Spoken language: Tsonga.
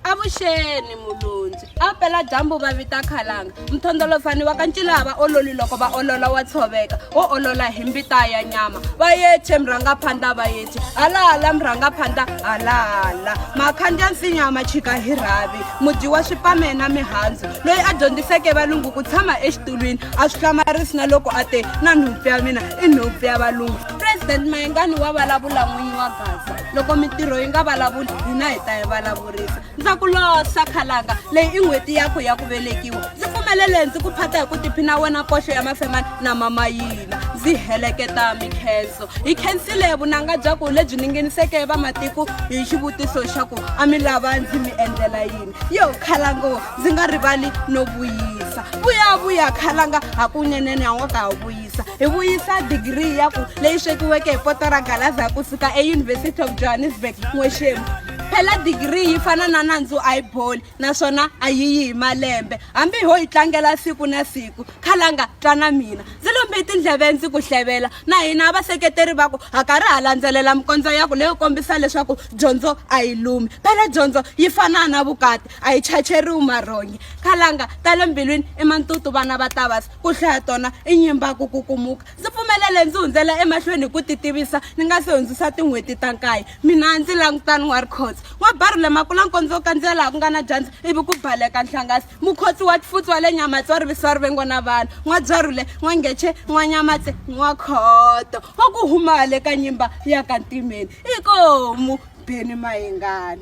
avuxeni mulundzi a pela dyambu va vita khalanga mthondolofani wa ka ncila va ololi loko va olola wa tshoveka wo olola hi mbita ya nyama va yeche mrhangaphandla va yeche halahala mrhangaphandla halahala makhandya nsinya ma chika hi rhavi mudyi wa swipame na mihandzu loyi a dyondziseke valungu ku tshama exitulwini a swi hlamarisi na loko a te na nhompfu ya mina i nhompfu ya valungu president mayengani wa vulavula n'winyi wa gaza loko mintirho yi nga vulavuli hina hi ta yi vulavurisa ndza ku losa khalanga leyi i n'hweti yakho ya ku velekiwa ndzi pfumelele ndzi ku phata hi ku tiphina wena koxo ya mafemani na mama yina ndzi heleketa mikhenso hi khensile vunanga bya ku lebyi ningeniseke vamatiko hi xivutiso xa ku a mi lava ndzi mi endlela yini yo khalango ndzi nga rivali no vuyisa vuyavuya khalanga hakunenene a nga ka ha vuyi hi vuyisa digiri ya ku leyi swekiweke hi poto ra galaza ku suka euniversity of johannesburg n'wexemu phela digiri yi fana na nandzu a yi boli naswona a yi yi hi malembe hambi ho yi tlangela siku na siku khalanga twa na mina ndzi lombe tindleve ndzi ku hlevela na hina vaseketeri va ku ha karhi ha landzelela mikondzo ya ku leyo kombisa leswaku dyondzo a yi lumi phela dyondzo yi fana na vukati a yi chacheriwi marhonyi khalanga ta le mbilwini i mantutu vana va tavasi Ku hlaya tona i nyimba ku kukumuka. Ndzi pfumelele ndzi hundzela emahlweni hi ku titivisa ni nga si hundzisa tin'hweti ta nkaye. Mina ndzi langutani wa rikhotso. Wa baru le makula nkondzo kandziya laha ku nga na dyandza ivi ku baleka nhlangasi. Mukhotsi wa tifutsi wa le Nyamatse wa rivisi wa rivengo na vanhu. N'wa byarhule, n'wa ngece, n'wa Nyamatse, n'wa khoto. Wa ku huma hale ka nyimba ya ka Ntimeni. Inkomu, Beni Mayengani.